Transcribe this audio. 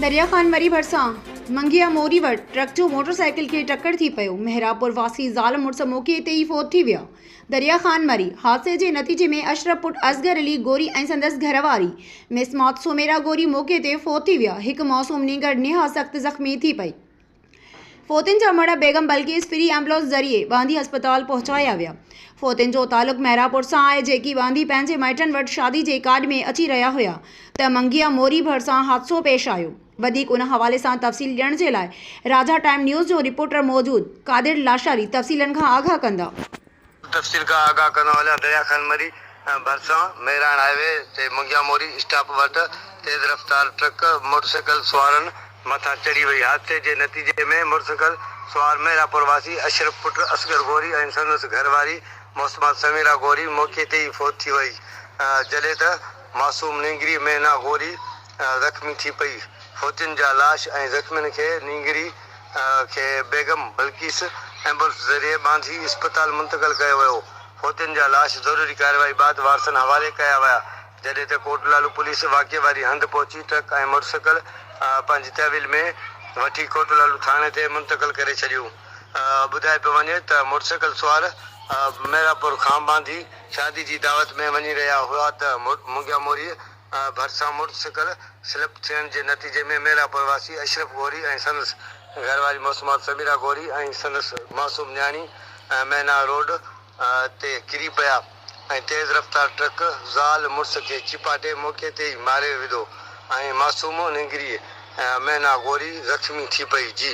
دريا خان مري ڀرسان منگيء موري وٽ ٽرڪ جو موٽر سائيڪل کي ٽڪر ٿي پيو، محرابپور واسي زال مڙس موقعي تي ئي فوت ٿي ويا. دريا خان مري حادثي جي نتيجي ۾ اشرف پٽ اصغر علي گوري ۽ سندس گهر واري مسمات سميرا گوري موقعي تي فوت ٿي ويا، هڪ معصوم نينگر نهايت سخت زخمي ٿي پئي. فوتين جا مڙهه بيگم بلقيس فري ايمبولينس ذريعي واندي اسپتال پهچايا ويا. فوتين جو تعلق مهراپور سان آهي جيڪي واندي پنهنجي مائٽن وٽ شادي جي ڪارڊ ۾ اچي رهيا هيا ته منگيء موري ڀرسان حادثو پيش آيو. وڌيڪ ان حوالي سان تفصيل ڏيڻ جي لاء راجا ٽائيم نيوز جو رپورٽر موجود قادر لاشاري تفصيلن کان آگاهه ڪندا. تفصيل کان آگاهه ڪندو هليان درياء خان مري ڀرسان مهراڻ هاء وي تي منگيان موري اسٽاپ وٽ تيز رفتار ٽرڪ موٽرسائيڪل سوارن مٿان چڙهي وئي حادثي جي نتيجي ۾ موٽرسائيڪل سوار مهراپور واسي اشرف پٽ اصغر غوري ۽ سندس گهر واري محسمان سميرا غوري موقعي تي ئي فوت ٿي وئي جڏهن ته معصوم نينگري مينا غوري زخمي ٿي پئي. فوجين جا لاش ۽ زخمين کي نينگري کي بيگم بلقيس ايمبولنس ذريعي ٻانڌي اسپتال منتقل ڪيو ويو. فوجين جا لاش ضروري ڪارروائي بعد وارثن حوالي ڪيا ويا، جڏهن ته ڪوٽلالو پوليس واقعي واري هنڌ پهچي ٽرڪ ۽ موٽرسائيڪل پنهنجي تحويل ۾ وٺي ڪوٽلالو ٿاڻي تي منتقل ڪري ڇڏيون. ٻڌائي پيو وڃي ته موٽرسائيڪل سوار ميرا پور کان ٻانڌي شادي جي دعوت ۾ وڃي رهيا هئا ته منگياموريء ڀرسان موٽر سائيڪل سلپ ٿيڻ جي نتيجي ۾ ميرانپور واسي اشرف غوري ۽ سندس گهر واري معصومات سميرا غوري ۽ سندس معصوم نياڻي مينا روڊ تي ڪري پيا ۽ تيز رفتار ٽرڪ زال مڙس کي چيپاٽي موقعي تي ئي ماري وڌو ۽ معصوم نينگري مينا غوري زخمي ٿي پئي جي